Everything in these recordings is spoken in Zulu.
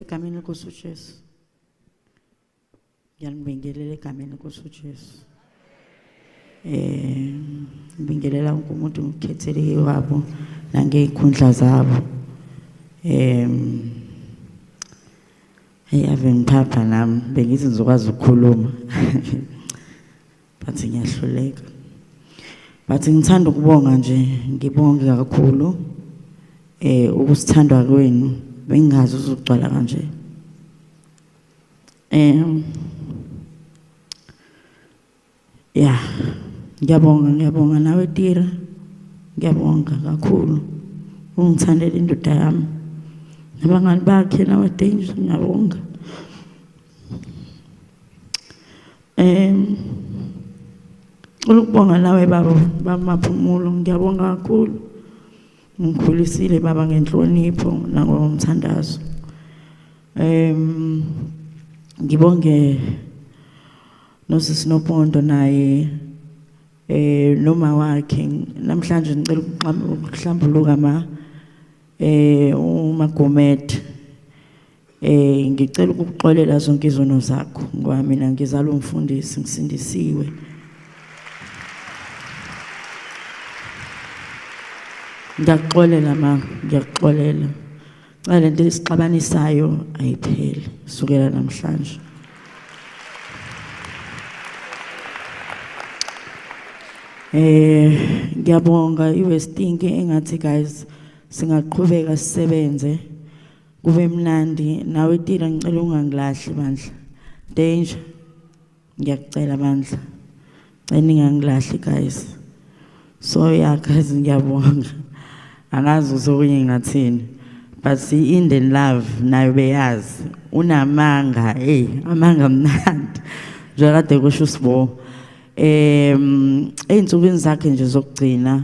egameni lenkosi ujesu ngiyanibingelela egameni lenkosi ujesu um ngibingelela wonke umuntu ngikhetheleke wabo nangey'khundla zabo um eyi ave ngiphapha nami bengithi ngizokwazi ukukhuluma bathi ngiyahluleka bathi ngithanda ukubonga nje ngibonge kakhulu eh ukusithandwa kwenu bengingazi uzogcwala kanje eh ya ngiyabonga ngiyabonga nawe tira ngiyabonga kakhulu ungithandela indoda yami nabangani bakhe nabadengi ngiyabonga um ukubonga nawe baba bamaphumulo ngiyabonga kakhulu ngikhulisile baba ngenhlonipho nangomthandazo um ngibonge nosisi nopondo naye eh noma wakhe namhlanje ngicela ukuhlambuluka ma eh umagomet Eh ngicela ukukuxolela zonke izono zakho ngoba mina ngizalwa umfundisi ngisindisiwe. Ngiyakuxolela ma, ngiyakuxolela. Cha lento esixabanisayo ayipheli sukela namhlanje. Eh ngiyabonga iWestinki engathi guys singaqhubeka sisebenze kube mnandi nawe tila ngicela ungangilahli bandla danger ngiyakucela bandla cela ningangilahli guys so ya guys ngiyabonga angazi usokunye ngathini but see in the love nayo beyazi unamanga hey amanga mnandi njengadekosho usibo um ezinsukwini zakhe nje zokugcina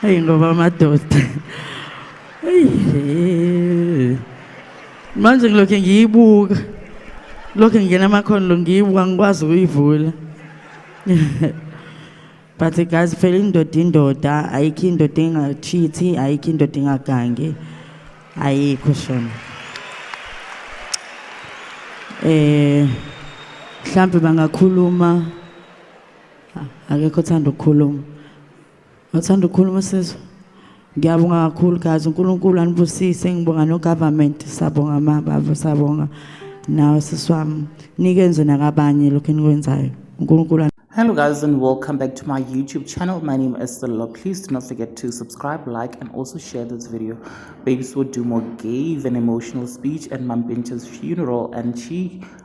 Hey ngoba amadoda. Hey. Manje ngilokhe ngiyibuka. Lokhe ngingena amakhono lo ngiyibuka ngikwazi ukuyivula. But guys phela indoda indoda ayikho indoda engachithi ayikho indoda engagangi ayikho shona. Eh mhlambe bangakhuluma akekho othanda ukukhuluma othanda ukukhuluma sizwe ngiyabonga kakhulu guys unkulunkulu anibusise ngibonga nogovernment sabonga mababa sabonga nawe sisi wami nikenze nakabanye lokhu enikwenzayo unkulunkulu Hello guys and welcome back to my YouTube channel. My name is Stella. Please do not forget to subscribe, like and also share this video. Baby Swo Dumo gave an emotional speech at Mampincha's funeral and she